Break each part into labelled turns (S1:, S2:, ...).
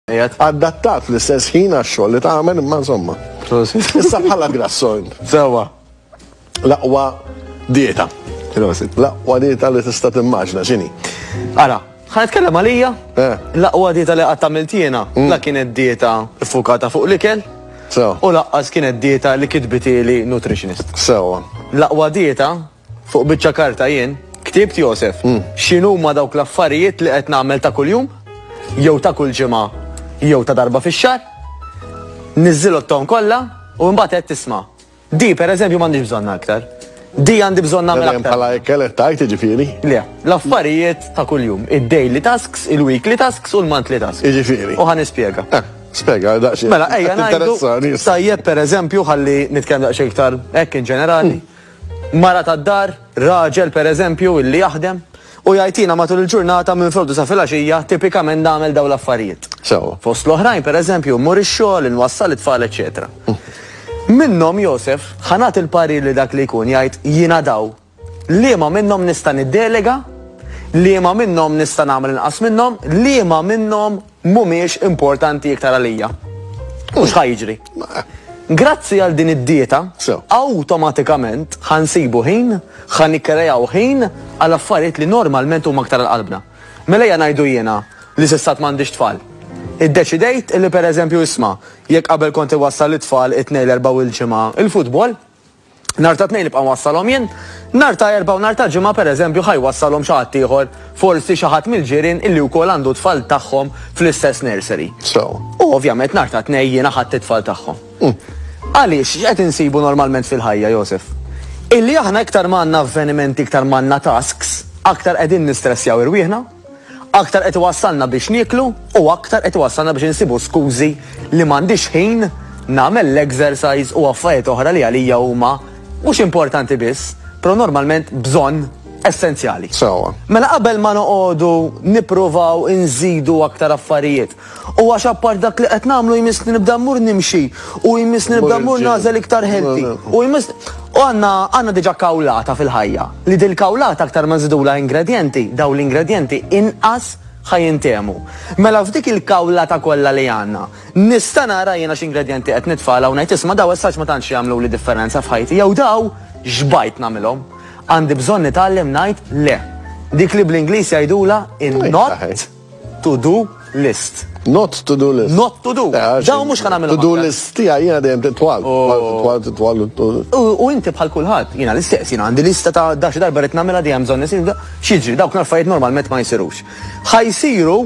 S1: Adattat fl-istess ħin għax-xogħol li tagħmel imma insomma. Issa bħala grassojn. Sewa.
S2: L-aqwa
S1: dieta. L-aqwa dieta li tista' timmaġna x'inhi. Ara,
S2: ħan nitkellem għalija. Eh. L-aqwa dieta li qatt għamilt jiena, mm. la kienet dieta ffukata fuq l-ikel. U laqqas kienet dieta li kitbitili nutritionist. Sewa.
S1: L-aqwa dieta
S2: Fuq biċċa karta jien ktibt Josef x'inhuma dawk l-affarijiet li qed nagħmel ta' kuljum, jew ta' kull ġimgħa, jew ta' darba fix-xahar. Niżżilotthom kollha u mbagħad għedt isma', di pereżempju m'għandix bżonnha aktar. Di għandi bżonn nagħmel aktar. Bħala hekk qed tgħid
S1: jiġifieri? Le, l-affarijiet
S2: ta' kuljum, id-daily tasks, il-weekly tasks u l-monthly tasks. Jiġifieri. U ħa nispjega. Eh. Spega, daqxie.
S1: Mela, ejja, najdu.
S2: Tajjeb, per eżempju, ħalli nitkellem daqxie iktar, ekk in ġenerali. Hmm. Mara tad-dar, raġel pereżempju illi jaħdem, u jgħid jiena matul il-ġurnata minn frodu sa filgħaxija tipikament nagħmel dawn l-affarijiet. Sewwa. Fost l-oħrajn pereżempju mmur ix-xogħol, inwassal it-tfal eċċetera. Minnhom Josef ħa nagħti l-parir li dak li jkun jgħid jiena daw, liema minnhom nista' niddelega, liema minnhom nista' nagħmel inqas minnhom, liema minnhom Mhumiex importanti iktar għalija. U x'ħa jiġri? Grazzi għal din id-dieta, awtomatikament ħa nsibu ħin, ħa nikkrejaw ħin għal affarijiet li normalment huma aktar għal qalbna. Mela ejja ngħidu jiena li s'issa għad m'għandix tfal. Iddeċidejt li pereżempju isma', jekk qabel kont iwassal lit-tfal it-Tnejn, l-Erbgħa u l-Ġimgħa il-futbol, Nhar ta' Tnejn nibqa' nwassalhom jien, nhar ta' Erbgħa u nhar ta' Ġimgħa pereżempju ħa jwassalhom xi ħadd ieħor, forsi xi ħadd mill-ġirien illi wkoll għandu t-tfal tagħhom fl-istess nursery. Sew. U ovvjament nhar ta' Tnejn jiena ħadt it-tfal tagħhom. Għaliex, x'qed insibu normalment fil-ħajja, Josef? Illi aħna iktar ma għandna avvenimenti, iktar ma għandna tasks, aktar qegħdin nistressjaw irwieħna. Aktar qed iwassalna biex nieklu u aktar qed iwassalna biex insibu skużi li m'għandix ħin nagħmel l-exercise u affarijiet oħra li għalija huma mhux importanti biss, pero normalment bżonn essenzjali. Sewwa. Mela qabel ma noqogħdu nippruvaw inżidu aktar affarijiet U għax apart dak li qed nagħmlu jmiss li nibda mmur nimxi u jmiss li nibda mmur nagħżel iktar ħelti. U jmiss u għandna għandna diġà kawlata fil-ħajja li dil-kawlata aktar ma nżidulha ingredjenti, dawn l-ingredjenti inqas ħa jintehmu. Mela f'dik il-kawlata kollha li għandna, nista' nara jiena x'ingredjenti qed nitfagħlha u ngħid isma' daw essaċ ma tantx jagħmluli differenza f'ħajti jew daw x'bajt nagħmilhom. Għandi bżonn nitgħallem ngħid le. Dik li bl-Ingliż jgħidulha in-not to do list. Not to do
S1: list. Not to do. Eh, Daw
S2: mux ħana minna. To do list tija jina
S1: dejjem titwal. Oh. Titwal, titwal. U
S2: inti bħal kulħadd, jina l-istess, jina għandi lista ta' daċi darba rrit namela dejjem bżonn nisir, xieġri, dawk narfajiet normalment ma jisirux. Ħajsiru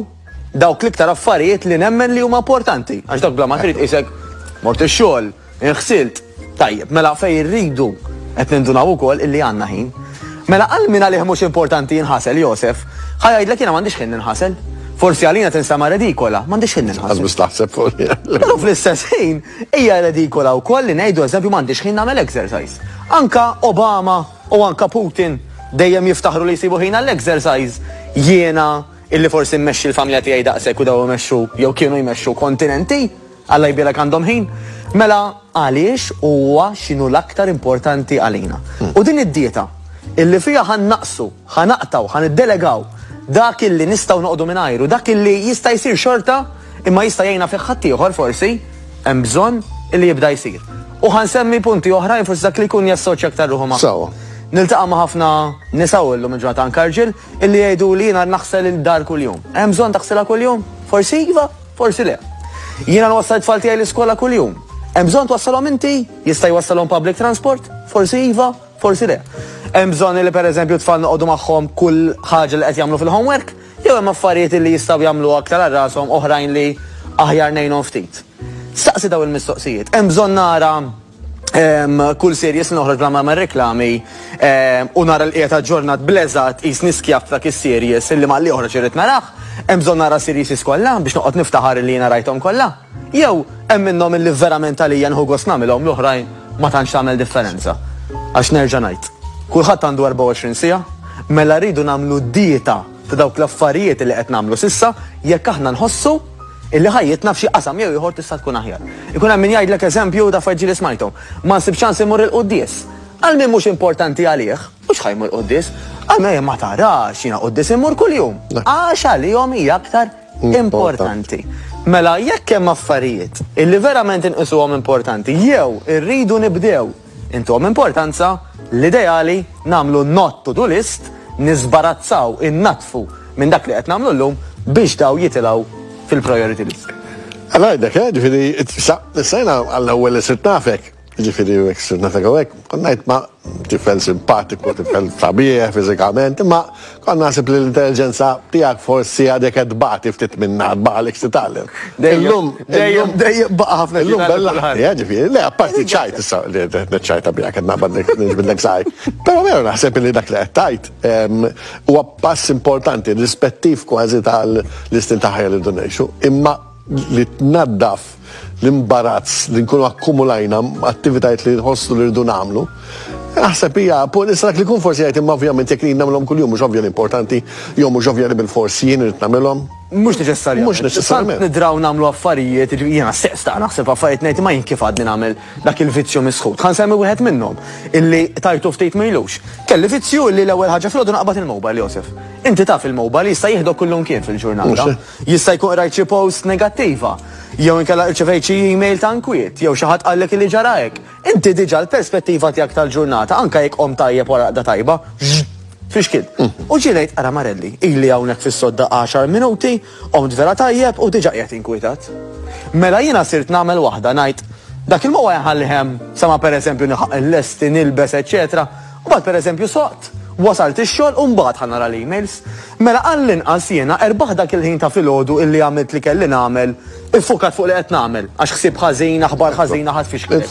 S2: dawk l-iktar affarijiet li nemmen li huma importanti. Għax dawk bla ma trid isek mort ix-xogħol, Irħsilt? Tajjeb, mela fejn irridu qed nindunaw ukoll illi għandna ħin. Mela għal min għalih mhux importanti jinħasel Josef, ħa jgħidlek jiena m'għandix ħin ninħasel. Forsi għalina tinsama redikola, m'għandix ħin ninħasel. Għazbis taħseb fuq
S1: Però fl-istess
S2: ħin hija redikola wkoll li ngħidu eżempju m'għandix ħin nagħmel exercise. Anka Obama u anka Putin dejjem jiftaħru li jsibu ħin għall-exercise jiena illi forsi mmexxi l-familja tiegħi daqshekk u daw imexxu jew kienu jmexxu kontinenti. Alla jbierek għandhom ħin. Mela għaliex huwa x'inhu l-aktar importanti għalina. U din id-dieta, illi fiha ħa nnaqqsu, ħa naqtgħu, ħa niddelegaw dak illi nistgħu noqogħdu mingħajru, dak illi jista' jsir xorta imma jista' jgħinna fih ħaddieħor forsi, hemm bżonn illi jibda jsir. U ħa nsemmi punti oħrajn forsi dak li jkun jassoċja aktar ruħu magħhom. Niltaqa' ma' ħafna nisa u llum il-ġurnata anke rġiel, Illi jgħiduli jiena naħsel il-dar kuljum. Hemm bżonn taħsilha kuljum? Forsi iva, forsi le. Jiena nwassal it-tfal tiegħi l-iskola kuljum. Hemm bżonn twassalhom inti? Jista' jwassalhom public transport? Forsi iva, forsi le. Hemm bżonn li pereżempju t-tfal noqogħdu magħhom kull ħaġa li qed jagħmlu fil-homework? Jew hemm affarijiet li jistgħu jagħmlu aktar għal rashom oħrajn li aħjar ngħinhom ftit? Staqsi dawn il-mistoqsijiet. Hemm bżonn nara Kull series noħroġ bla ma' reklami u nara l-qiegħed aġġornat bleżat qis niskjaf ta' kis series illi ma' li joħroġ irrid narah, hemm bżonn nara series iskollha biex noqgħod niftaħar illi jiena rajthom kollha? Jew hemm minnhom illi verament għalija nieħu gost nagħmilhom l-oħrajn ma tantx tagħmel differenza? Għax nerġa' ngħid, kulħadd għandu 24 siegħa, mela rridu nagħmlu dieta ta' dawk l-affarijiet li qed nagħmlu s'issa jekk aħna nħossu illi ħajjitna f'xi qasam jew ieħor tista' tkun aħjar. Ikun hemm min jgħidlek eżempju ta' affarijiet ġieli smajthom, Ma nsib ċans immur il-quddies. Għal min mhux importanti għalih, mhux ħa jmur quddies. Għal min ma tarax jiena quddies immur kuljum. Għax għalihom hija aktar importanti. Mela jekk hemm affarijiet illi verament inqisuhom importanti jew irridu nibdew Intuhom importanza, l-ideali, nagħmlu not to do list, niżbarazzaw, innaddfu minn dak li qed nagħmlu llum biex dawn jitilgħu fil-priority list. Għala għidek, eh,
S1: ġifiri, issa jena għall-ewel sirt nafek, ġifiri, għek sirt nafek għek, konnajt ma tifel simpatiku, tifel sabiħ, fizikament, ma Kont naħseb li l-intelliġenza tiegħek forsi għadek qed tbati ftit minnha, tbaqgħalek xi titgħallem. Illum, dejjem, dejjem baqa'
S2: ħafna xi titgħallem. Eh,
S1: ġifieri, le, apparti ċajt issa li qed niċċajta biha qed naqbad niġbidlek saj. Però veru naħseb li dak li qed tgħid ehm, huwa pass importanti, rispettiv kważi tal-istil ta' ħajja li rridu ngħixu, imma li tnaddaf l-imbarazz li nkunu akkumulajna attivitajiet li nħossu li rridu nagħmlu. Naħseb hija punt issa dak li jkun forsi jgħid imma ovvjament jekk jien nagħmilhom kuljum mhux ovvja li importanti jew mhux ovvja li bil-fors jien irid nagħmilhom. Mhux neċessarjament. Mhux
S2: neċessarjament. Nidraw
S1: nagħmlu affarijiet,
S2: jiena stess ta' naħseb affarijiet ngħid ma jien kif għadni nagħmel dak il-vizzju misħut. Ħa nsemmi wieħed minnhom illi tajtu ftit mejlux. Kelli vizzju li l-ewwel ħaġa fil-għodu naqbad il-mobile Josef. Inti taf il-mobile jista' jieħdok kullum kien fil-ġurnata. Jista' jkun qrajt xi post negattiva, jew inkella irċevejt xi email ta' nkwiet, jew xi ħadd qallek illi ġara hekk. Inti diġà l-perspettiva tiegħek tal-ġurnata, anke jekk qomt tajjeb wara raqda tajba, fixkil. U ġie ngħid, ara Marelli, ili hawnhekk fis-sodda għaxar minuti, qomt vera tajjeb u diġà qiegħed inkwitat. Mela jiena sirt nagħmel waħda, ngħid, dak il-mowgħa inħallih hemm sa ma pereżempju nilħaq inlesti, nilbes, eċċetera. Mbagħad pereżempju soqt, wasalt ix-xogħol u mbagħad ħa nara l-emails. Mela għall-inqas jiena erbaħt dak il-ħin ta' filgħodu illi għamilt li kelli nagħmel, iffukat fuq li qed nagħmel, għax ħsieb ħażin, aħbar ħażina ħa tfixkilek.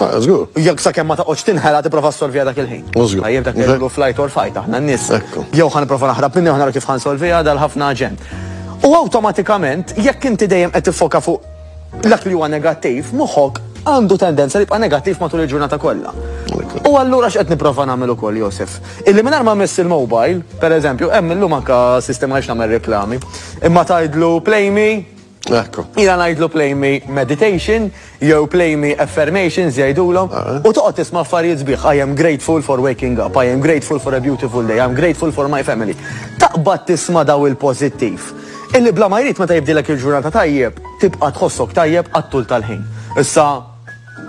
S2: Jekk sakemm
S1: ma taqgħodx
S2: tinħela tipprova ssolviha dak il-ħin. Tajjeb dak li ngħidulu flight or fight aħna n-nies. Jew ħa nipprova naħrab minni u ħa nara kif ħa nsolviha dal-ħafna ġenn. U awtomatikament jekk inti dejjem qed tiffoka fuq Dak li huwa negattiv, moħħok għandu tendenza li jibqa' negattiv matul il-ġurnata kollha. U allura x'qed nipprova nagħmel ukoll Josef? Illi mingħajr ma miss il-mobile, pereżempju, hemm illum anka sistema għax nagħmel reklami, imma tgħidlu play me, Ekku. Ila ngħidlu play me meditation jew play me affirmations jgħidulhom ah. u toqgħod tisma' affarijiet sbieħ I am grateful for waking up, I am grateful for a beautiful day, I am grateful for my family. Taqbad tisma' daw il-pożittiv. Illi bla ma jrid meta jibdielek il-ġurnata tajjeb, tibqa' tħossok tajjeb għat-tul tal-ħin. Issa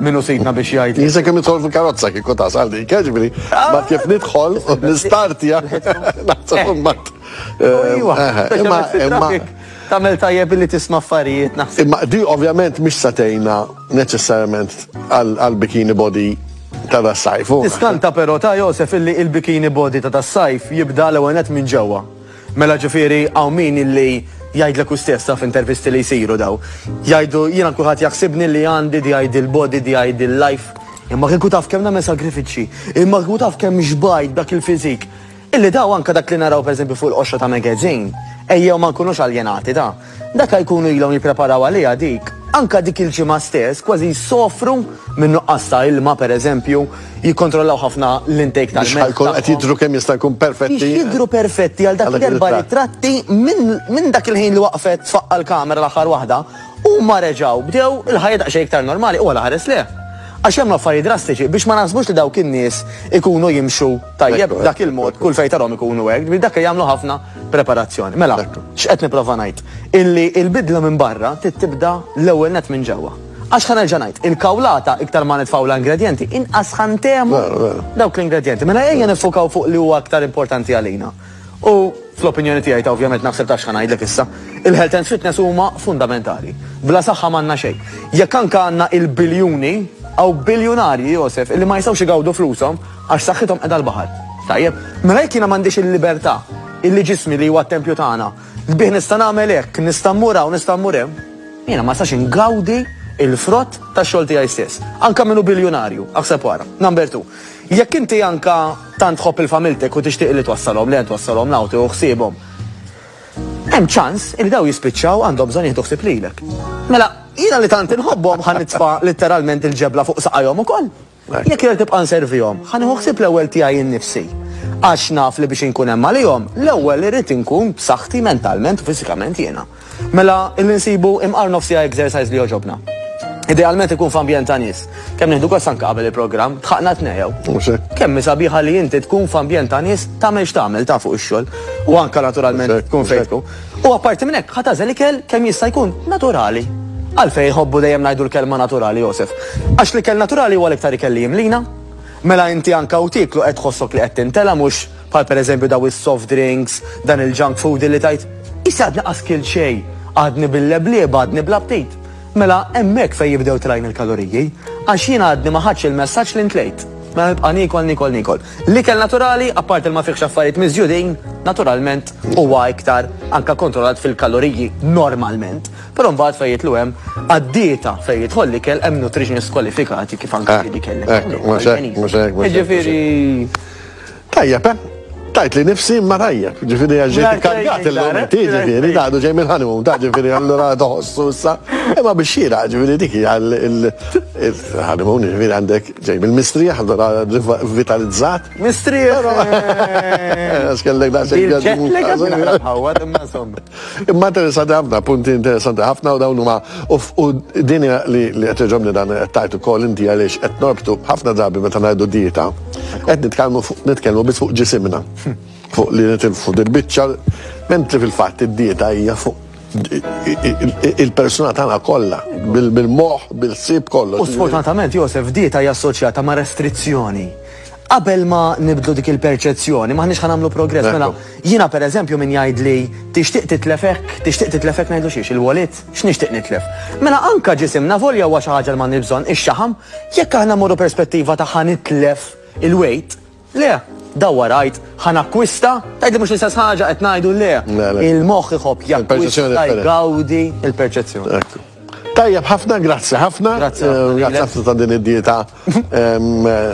S2: min hu sidna biex jgħid. Jien se kemm nidħol fil-karozza
S1: kieku tasal dik, jiġifieri mbagħad kif nidħol u nistartja naħseb imbagħad. Ejwa, imma
S2: imma tagħmel tajjeb billi tisma' affarijiet naħseb. Imma di ovvjament
S1: mhix se tgħinna neċessarjament għall-bikini body ta' das-sajf. Tiskanta però ta'
S2: Josef illi il-bikini body ta' das-sajf jibda l-ewwel nett minn ġewwa. Mela ġifieri hawn min illi jgħidlek hu stess taf intervisti li jsiru daw. Jgħidu jiena kulħadd jaħsibni li għandi di għajdi l-body, di għajdi l-life. Imma kieku taf kemm nagħmel sagrifiċċji, imma kieku taf kemm xbajt dak il-fiżik. Illi daw anke dak li naraw pereżempju fuq il-qoxra ta' magazine, ejjew ma nkunux aljenati ta'. Meta jkunu ilhom jippreparaw għaliha dik, anke dik il-ġimgħa stess kważi jsofru minn nuqqas ta' ilma, pereżempju, jikkontrollaw ħafna l-intake tal-melħ tagħhom. Biex jkunu qed jidhru kemm jista'
S1: jkun perfetti. Biex jidhru perfetti
S2: għal dak l-erba' ritratti minn dak il-ħin li waqfet f'aqqa l-kamera l-aħħar waħda, huma reġgħu bdew il-ħajja daqsxejn iktar normali, huwa l-aħares le. Għax hemm affarijiet drastiċi biex ma naħsbux li dawk in-nies ikunu jimxu tajjeb b'dak il-mod kull fejn tarhom ikunu hekk, dak li jagħmlu ħafna. preparazzjoni. Mela, x'qed nipprova ngħid? Illi il-bidla minn barra trid tibda l-ewwel net minn ġewwa. Għax ħa nerġa' ngħid, il-kawlata iktar ma nitfgħu l-ingredjenti, inqas ħantemu dawk l-ingredjenti. Mela ejja nifukaw fuq li huwa aktar importanti għalina. U fl-opinjoni tiegħi ta' ovvjament naħseb ta' x'ħa ngħidlek issa, il-health and fitness huma fundamentali. Bla saħħa m'għandna xejn. Jekk anke għandna il-biljuni, għaw biljunarji Josef, illi ma jistgħux igawdu flushom Għax saħħithom qiegħda l-baħar. Tajjeb, mela jekk jiena m'għandix il-libertà illi ġismi li huwa t-tempju tagħna, bih nista' nagħmel hekk, nista' mmur hawn, nista' mmur hemm, jiena ma nistax ingawdi il-frott tax-xogħol tiegħi stess. Anke min hu biljunarju, aħseb wara. Number two, jekk inti anke tant tħobb il-familtek u tixtieq li twassalhom le twassalhom l-awti u ħsiebhom, hemm ċans li daw jispiċċaw għandhom bżonn jieħdu ħsieb lilek. Mela, jiena li tant inħobbhom ħa nitfa' litteralment il-ġebla fuq saqajhom ukoll. Jekk jrid nibqa' nservihom, ħa nieħu ħsieb l-ewwel tiegħi nnifsi. Għax naf li biex inkun hemm għalihom, l-ewwel irrid inkun b'saħħti mentalment u fiżikament jiena. Mela, illi nsibu imqar nofs siegħa exercise li jogħġobna. Idealment ikun f'ambjent ta' nies. Kemm nieħdu gost anke qabel il-programm, tħaqna tnejjew. Mhux hekk. Kemm sabiħa li inti tkun f'ambjent ta' nies tagħmel x'tagħmel ta' fuq ix-xogħol u anke naturalment tkun fejn tkun. U apparti minn hekk, ħa tagħżel ikel kemm jista' jkun naturali. Għalfejn iħobbu dejjem ngħidu l-kelma naturali, Josef? Għax l-ikel naturali huwa l-iktar ikel li jimlina. Mela inti anke u tieklu qed tħossok li qed tintela' mhux bħal pereżempju daw is-soft drinks, dan il-junk food illi tgħid, Issa għadni qas kilt xejn, għadni bil-leblieb, għadni bla ptit. Mela hemmhekk fejn jibdew tlajn il-kaloriji, għax jiena għadni ma ħadtx il-messaġġ li ntlejt. Mela nibqa' niekol, niekol, niekol. L-ikel naturali, apparti li ma fihx affarijiet miżjudin, naturalment huwa iktar anke kontrollat fil-kaloriji normalment. Però mbagħad fejn jidħlu hemm għad-dieta fejn jidħol l-ikel hemm nutritionists kwalifikati kif anke li kellek. Hekk, mhux hekk, mhux hekk, mhux hekk. Jiġifieri. Tajjeb,
S1: eh? Tajt li nifsi imma tajjeb, ġifieri għax ġejt ikkargat illum inti, ġifieri, daqdu ġej minn honeymoon, ta' ġifieri allura toħossu issa. Imma biex xira, ġifieri dik hija l-honeymoon, ġifieri għandek Ġej mill-mistrieħ, allura rivitalizzat. Mistrieħ! Però, għax kellek daqsxejn Ġej għadmu. ġetlek għad minn ħarab ħawwad, imma insomma. Imma interessanti ħafna, punti interessanti ħafna u dawn huma u f- u din hija li li qed iġobni dan qed tajt ukoll inti għaliex qed norbtu ħafna drabi meta ngħidu dieta. Qed nitkellmu fuq nitkellmu biss fuq ġisimna. Fuq li nitilfu dil-biċċa, mentri fil-fatt id-dieta hija fuq il-persuna tagħna kollha, bil-moħħ, bil-sib kollu. U sfortunatament Josef
S2: dieta hija assoċjata ma' restrizzjoni. Qabel ma nibdlu dik il-perċezzjoni, maħniex ħan nagħmlu progress. Mela, jiena pereżempju min jgħid li tixtieq titlefek, tixtieq titlefek ngħidu xiex il-walid, x'nixtieq nitlef. Mela anka ġisimna volja huwa xi ħaġa li ma nibżon ix-xaħam, jekk aħna morru perspettiva ta' ħanitlef il-weight, Le, dawwar għid, ħa nakkwista, tgħidli mhux l-istess ħaġa qed ngħidu le. Il-moħħ iħobb jakkwista, jgawdi il-perċezzjoni. Tajjeb
S1: ħafna, grazzi ħafna. Grazzi eh, ħafna ta' din id-dieta ehm, eh,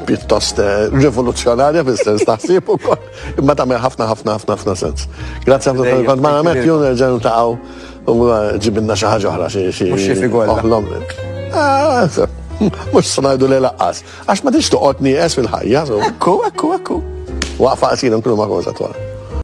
S1: pjuttost eh, rivoluzzjonarja fil-sens taħsib u imma tagħmel ħafna ħafna ħafna ħafna sens. Grazzi ħafna tal kont ma' għamet jun nerġgħu taqgħu u ġibinna xi ħaġa oħra xi xi. Mhux xi figol. Mhux ah, sanajdu li laqqas. Għax ma tridx toqgħod nieqes fil-ħajja, so. Ekku, ekku, ekku. Waqfa qasira nkunu ma' Rosa twal.